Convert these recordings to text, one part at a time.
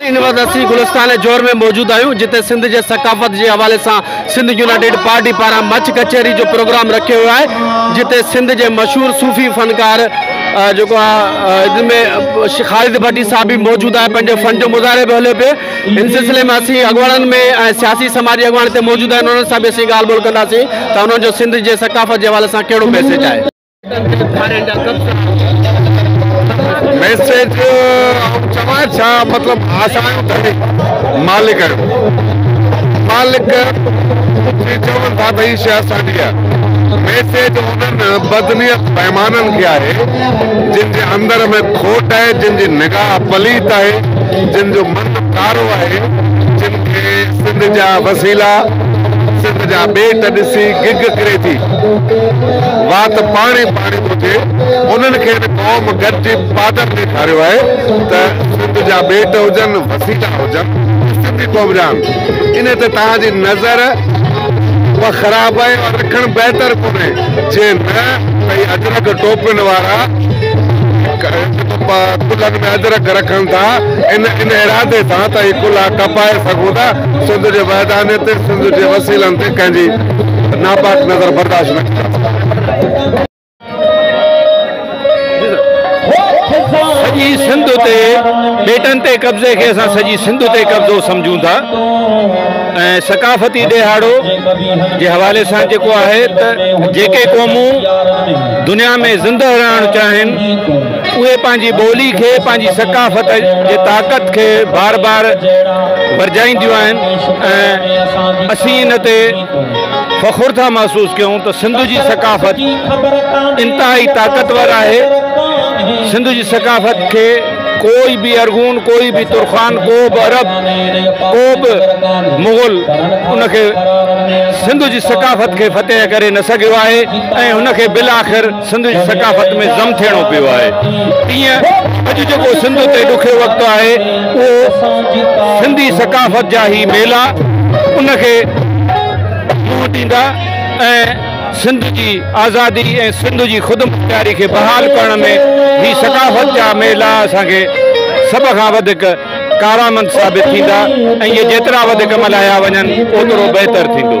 University Gulistan Johar ۾ موجود آھيون جتي سنڌ جي ثقافت جي حوالي سان سنڌ يونائيٽيڊ پارٽي پاران مچ ڪچهري جو پروگرام رکيو ويو آھي جتي سنڌ جي مشھور صوفي فنڪار جيڪو آھي ان ۾ خالد ڀٽي صاحب به موجود آھي پنهنجي فن جو مظاھري به ھليو پئي ان سلسلي ۾ اسين اڳواڻن ۾ ۽ سياسي سماجي اڳواڻ هتي موجود آهن انهن سان به اسين ڳالهه ٻولهه ڪنداسين ته انهن جو سنڌ جي ثقافت جي حوالي سان ڪهڙو ميسيج آهي. ميسيج آئون چوان ڇا مطلب اسان آهيون ڌڻي مالڪ آهيون مالڪ جي چون ٿا ته هي شي اسان جي آهي ميسيج انهن بدنيت بيمانن کي آهي جن جي اندر ۾ کوٽ آهي جن جي نگاهه پليت آهي جن جو مرد ڪارو آهي، جن کي سنڌ جا وسيلا، سنڌ جا ٻيٽ ڏسي گگ ڪري ٿي. وات پاڻي پاڻي ٿو ٿئي. انهن کي هن قوم گڏجي پادر ڏيکاريو آهي ته سنڌ جا ٻيٽ هجن، وسيلا هجن، اهي سنڌي قوم جا آهن. انهيء تي توهان جي نظر اها خراب آهي، اها رکڻ بهتر ڪونهي، جي نه ته هي اجرڪ ٽوپين وارا، ڪلهن ۾ ادرڪ رکن ٿا ان ان ارادي سان ته اهي ڪلها ڪپائي سگهون ٿا سنڌ جي وحدانيت تي سنڌ جي وسيلن تي ڪنهن جي ناپاڪ نظر برداشت نه ڪندا. سڄي سنڌ اتي ٻيٽن تي قبضي کي اسان سڄي سنڌ اتي قبضو سمجهون ٿا ۽ ثقافتي ڏيهاڙو جي حوالي سان جيڪو آهي ته جيڪي قومون دنيا ۾ زندهه رهڻ چاهين، اهي پنهنجي ٻولي کي، پنهنجي ثقافت جي طاقت کي بار بار ورجائينديون آهن ۽ اسين ان تي فخر ٿا محسوس ڪيون ته سنڌ جي ثقافت انتهائي طاقتور آهي، سنڌ جي ثقافت کي ڪو به ارغون، ڪو به ترخان، ڪو به عرب، ڪو به مغل ان کي سنڌ جي ثقافت کي فتح ڪري نه سگهيو آهي. ۽ هن کي بالاخر سنڌ جي ثقافت ۾ ضم ٿيڻو پيو آهي. تيئن اڄ جيڪو سنڌ تي ڏکيو وقت آهي اهو سنڌي ثقافت جا هي ميلا ان کي منهن ڏيندا ۽ سنڌ جي آزادي ۽ سنڌ جي خودمختياري کي بحال ڪرڻ ۾ هي ثقافت جا ميلا اسان کي سڀ کان وڌيڪ ڪارآمد ثابت ٿيندا ۽ اهي جيترا وڌيڪ ملهايا وڃن اوترو بهتر ٿيندو.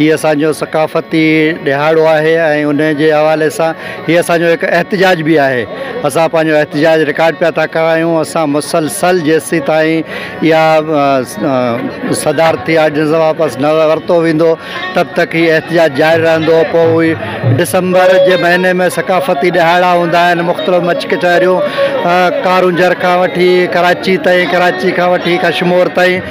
هي اسان جو ثقافتي ڏهاڙو آهي ۽ ان جي حوالي سان هي اسان جو هڪ احتجاج به آهي اسان پنهنجو احتجاج رڪارڊ پيا ٿا ڪرايون اسان مسلسل جيسين تائين اها صدارتي آرڊيننس واپس نه ورتو ويندو تب تڪ هي احتجاج جاري رهندو پوء اهي ڊسمبر جي مهيني ۾ ثقافتي ڏهاڙا هوندا آهن مختلف مچ ڪچهريون ڪارونجهر کان وٺي ڪراچي تائين ڪراچي کان وٺي ڪشمور تائين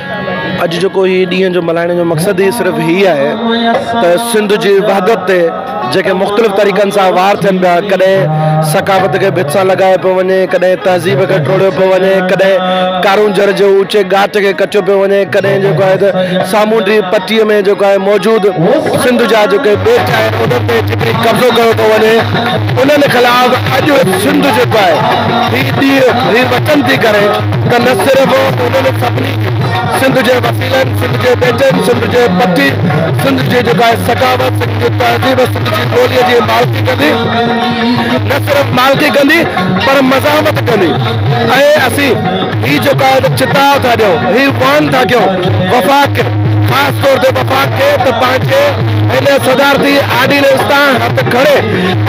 اڄ جيڪو هي ڏينهن جو ملهائڻ جو مقصد ئي صرف هي آهي ته سنڌ جي وحدت تي جيڪي مختلف طريقن سان وار ٿين پيا ڪڏهن ثقافت کي ڀت سان لڳايو پيو وڃي ڪڏهن تهذيب کي ٽوڙيو پيو وڃي ڪڏهن ڪارونجهر جي اوچي ڳاٽ کي ڪچو پيو وڃي ڪڏهن جيڪو آهي ته سامونڊي پٽي ۾ جيڪو آهي موجود سنڌ جا جيڪي ٻيٽ آهن انهن تي جيڪي قبضو ڪيو پيو وڃي انهن خلاف اڄ سنڌ جيڪو آهي هي ڏينهن هي وطن ٿي ڪري ته نه صرف انهن سڀني سنڌ جي وسيلن، سنڌ جي ٻيٽن، سنڌ جي پٽي، سنڌ جي جيڪا آهي ثقافت، سنڌ جي تهذيب، سنڌ جي ٻوليء جي مالڪي ڪندي، نه صرف مالڪي ڪندي پر مزاحمت ڪندي ۽ اسين هي جيڪو آهي ته چتاء ٿا ڏيون، هي وعن ٿا ڪيون وفاق کي، خاص طور تي وفاق کي ته پنهنجي هن صدارتي آرڊيننس تان هٿ کڻي،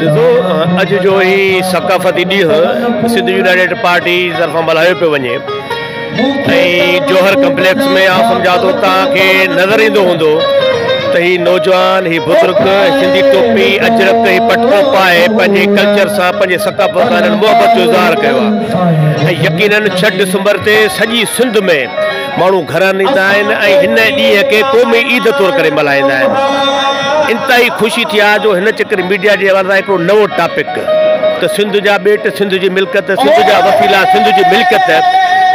ڏسو اڄ جو هي ثقافتي ڏينهن سنڌ يونائيٽيڊ پارٽي طرفان ملهايو پيو وڃي ۽ جوهر ڪمپليڪس ۾ آء سمجهان ٿو توهان کي نظر ايندو هوندو ته هي نوجوان هي بزرگ سنڌي ٽوپي اجرڪ هي پٽڪو پائي پنهنجي ڪلچر سان پنهنجي ثقافت سان محبت جو اظهار ڪيو آهي ۽ يقينن ڇهه ڊسمبر تي سڄي سنڌ ۾ ماڻهو گهرن ايندا آهن ۽ هن ڏينهن کي قومي عيد طور ڪري ملهائيندا آهن. انتهائي خوشي ٿي آهي جو هن چڪر ميڊيا جي حوالي سان هڪڙو نئون ٽاپڪ ته سنڌ جا ٻيٽ سنڌ جي ملڪيت، سنڌ جا وسيلا سنڌ جي ملڪيت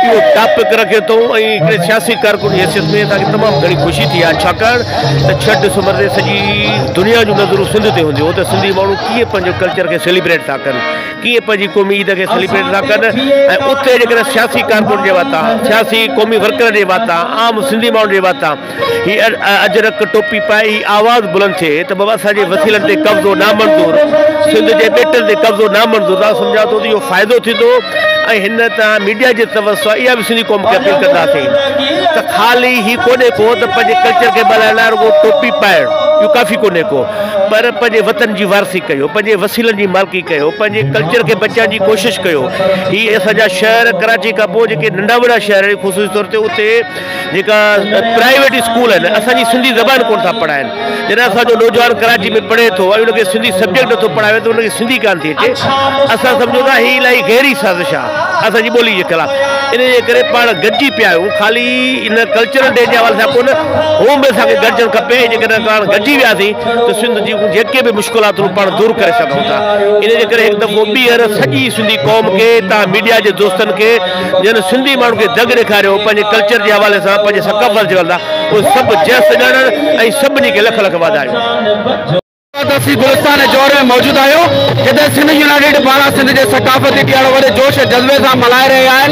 اهو ٽاپڪ رکيو اٿئون ۽ هڪڙي سياسي ڪارڪن جي حيثيت ۾ اسان کي تمام گهڻي خوشي ٿي آهي ڇاڪاڻ ته ڇهه ڊسمبر تي سڄي دنيا جون نظرون سنڌ تي هونديون ته سنڌي ماڻهو ڪيئن پنهنجو ڪلچر کي سيليبريٽ ٿا ڪن. ڪيئي پنهنجي قومي عيد کي سيليبريٽ ٿا ڪن ۽ اتي جيڪڏهن سياسي ڪارڪن جي واتان سياسي قومي ورڪرن جي واتان عام سنڌي ماڻهن جي واتان هي اجرڪ ٽوپي پائي هي آواز بلند ٿئي ته بابا اسان جي وسيلن تي قبضو نامنظور سنڌ جي ٻيٽن تي قبضو نامنظور ته آئون سمجهان ٿو ته اهو فائدو ٿيندو ۽ هن تان ميڊيا جي طرف سان اها به سنڌي قوم کي اپيل ڪنداسين ته خالي هي ڪونهي ڪو ته پنهنجي ڪلچر کي ٻلهائڻ لاء رڳو ٽوپي پائڻ اهو ڪافي ڪونهي ڪو پر پنهنجي وطن جي وارثي ڪيو پنهنجي وسيلن جي مالڪي ڪيو پنهنجي ڪلچر کي بچائڻ جي ڪوشش ڪيو هي اسان جا شهر ڪراچي کان پوء جيڪي ننڍا وڏا شهر آهن خصوصي طور تي اتي جيڪا پرائيويٽ اسڪول آهن اسان جي سنڌي زبان ڪونه ٿا پڙهائين جڏهن اسان جو نوجوان ڪراچي ۾ پڙهي ٿو ۽ ان کي سنڌي سبجيڪٽ نٿو پڙهائي وڃي ته ان کي سنڌي ڪانه ٿي اچي اسان سمجهون ٿا هي الائي گهري سازش آهي اسان جي ٻولي جي خلاف ان جي ڪري پاڻ گڏجي پيا آهيون خالي ان ڪلچرل ڊي جي حوالي سان ڪونه هو به اسان کي گڏجڻ کپي جيڪڏهن پاڻ گڏجي وياسين ته سنڌ جي جيڪي به مشڪلاتون پاڻ دور ڪري سگهون ٿا ان جي ڪري هڪ دفعو ٻيهر سڄي سنڌي قوم کي توهان ميڊيا جي دوستن کي جن سنڌي ماڻهن کي دڳ ڏيکاريو پنهنجي ڪلچر جي حوالي سان پنهنجي ثقافت جي حوالي سان اهي سڀ جس سڄاڻن ۽ سڀني کي لک لک واڌايون. اسين گلستان جوهر ۾ موجود آهيون جتي سنڌ يونائيٽيڊ پاران سنڌ جي ثقافتي ڏيهاڙو وڏي جوش ۽ جذبي سان ملهائي رهيا آهن.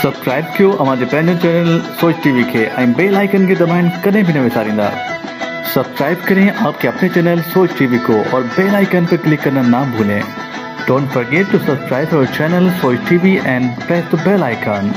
سبسڪرائب ڪيو اوهان جي پنهنجو چينل سوچ ٽي وي کي ۽ بيل آئيڪن کي دٻائڻ ڪڏهن به نه وساريندا سبسڪرائب ڪرين آپ ڪي اپني چينل سوچ ٽي وي ڪو اور بيل آئيڪن پي ڪلڪ ڪرنا نا ڀولين ڊونٽ فرگيٽ ٽو سبسڪرائب اور channel Soch T V and press the bell icon.